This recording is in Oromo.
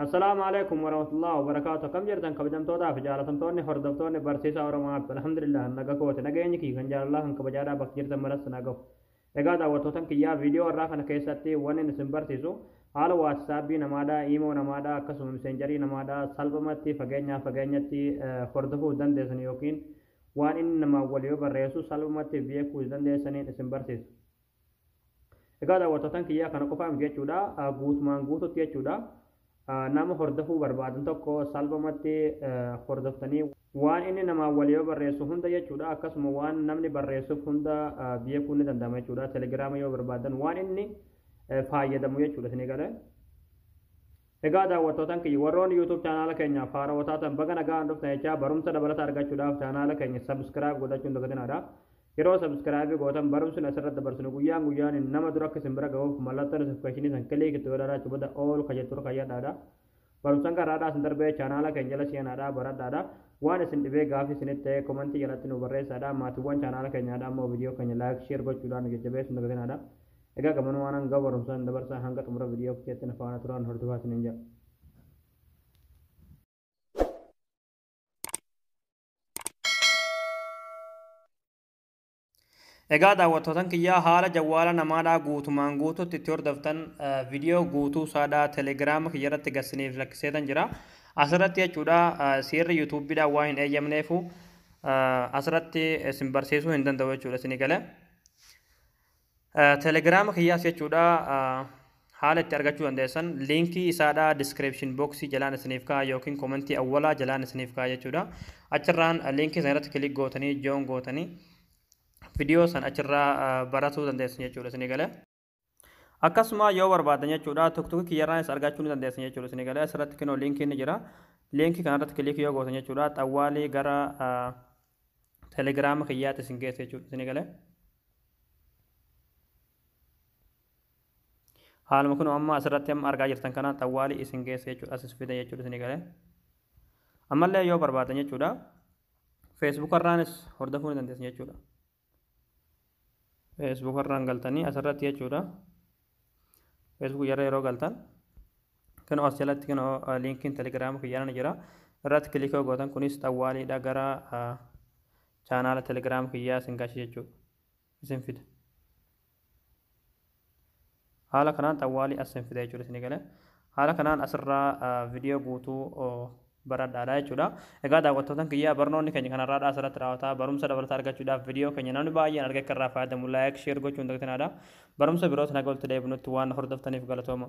Assalaamu alaikum warahmatullahi wabarakaatu akkam jirtan kabajamtootaa fi jaalatamtoonni hordoftoonni barsiisaa Oromoo App alhamdulillah naga kooti nageenyi kiyya kan jaalalaa kan kabajaadhaa bakka jirtan maratti na gahu. Egaa daawwattootan kiyyaa viidiyoo irraa kana keessatti wanni isin barsiisu haala waatsaapii namaadhaa iimoo namaadhaa akkasuma miseenjarii namaadhaa salphumatti fageenyaa fageenyatti hordofuu dandeessan yookiin waan inni namaa wal yoo barreessu salphumatti beekuu dandeessaniin isin barsiisa. Egaa daawwattootaan kiyyaa kana qofaa miti jechuudha. Guutumaan guututti jechuudha. Nama hordofuu barbaadan tokko salphumatti hordoftanii waan inni namaan walii yoo barreessu hunda jechuudha. Akkasuma waan namni barreessuuf hunda beekuun ni danda'ama jechuudha. Telegiraama yoo barbaadan waan inni fayyadamu jechuudha isinii galee. Egaa daawwattootaan kiyya warroonni YouTube chaanaala keenya faaroo taatan baga nagaan dhuftan jechaa barumsa dabalata argachuudhaaf chaanaala keenya subscribe godhachuun dagatinaadha. Yeroo subscribe gootan barumsni asirra dabarsinu guyyaan guyyaan nama dura akka isin bira gahuuf mallattoo notification san click itti godhaadha achi booda all ka jettu irra kayyadhaadha. Barumsan kan raadhaa isin darbee chaanaala keenya jala seenaadha baradhaadha. Waan isin dhibee gaafii isinitti ta'e komantii jalatti nu barreessaadha. Maatiiwwan chaanaala keenyaadha ammoo viidiyoo keenya like share gochuudhaan nu jajjabeessu hin dagatinaadha. Egaa gamanuu waan hanga barumsaan dabarsaa hanga xumura viidiyoo keessatti na faana turaan hordofaa isiniin jedha. Egaa daawwattootan kiyyaa haala jawwaala namaadhaa guutumaan guututti itti hordoftan viidiyoo guutuu saadhaa telegiraama kiyya irratti gassiniif lakkiseetan jira. Asirratti jechuudha seerri yuutuubbiidhaan waan hin eeyyamneefu asirratti isin barsiisuu hin danda'u jechuudha isinii galee. Telegram kiyyaas jechuudha haala itti argachuu dandeessan liinkii isaadha description box jalaan isiniif ka'a yookiin komentii awwalaa jalaan isiniif ka'a jechuudha achirraan liinkii sana irratti kilik gootanii joon gootanii viidiyoo san achirraa baratuu dandeessan jechuudha isinii galee. Akkasuma yoo barbaadan jechuudha tokko kiyyarraanis argachuu ni dandeessan jechuudha isinii galee asirratti kinoo liinkii ni jira liinkii kanarratti kilik yoo gootan jechuudha xawwaalii gara telegiraama kiyyaatti isin geessa jechuudha isin galee haaluma kun amma asirratti amma argaa jirtan kana xawwaalii isin geessa jechuudha asis fida jechuudha isin galee ammallee yoo barbaadan jechuudha feesbuukarraanis hordofuu ni dandeessan jechuudha Facebook irraan galtanii asirratti jechuudha. Facebook irra yeroo galtan kanoo as jalatti kanoo liinkiin telegiraama kiyyaana jira. Irratti kilikoo gootan kunis xawwaaliidha gara chaanaala telegiraama kiyyaa isin gashi jechuudha. Isin fida. haala kanaan xawwaalii as sin fida jechuudha isin gale haala kanaan asirraa viidiyoo guutuu baradhaadha jechuudha egaa daawwattootan kiyyaa barnoonni keenya kanarraadha asirratti raawwataa barumsa dabalataa argachuudhaaf viidiyoo keenya namni baay'een arga akka irraa fayyadamu laayik sheer gochuun dagtinaadha barumsa biroos naga walitti deebinutti waan hordoftaniif galatooma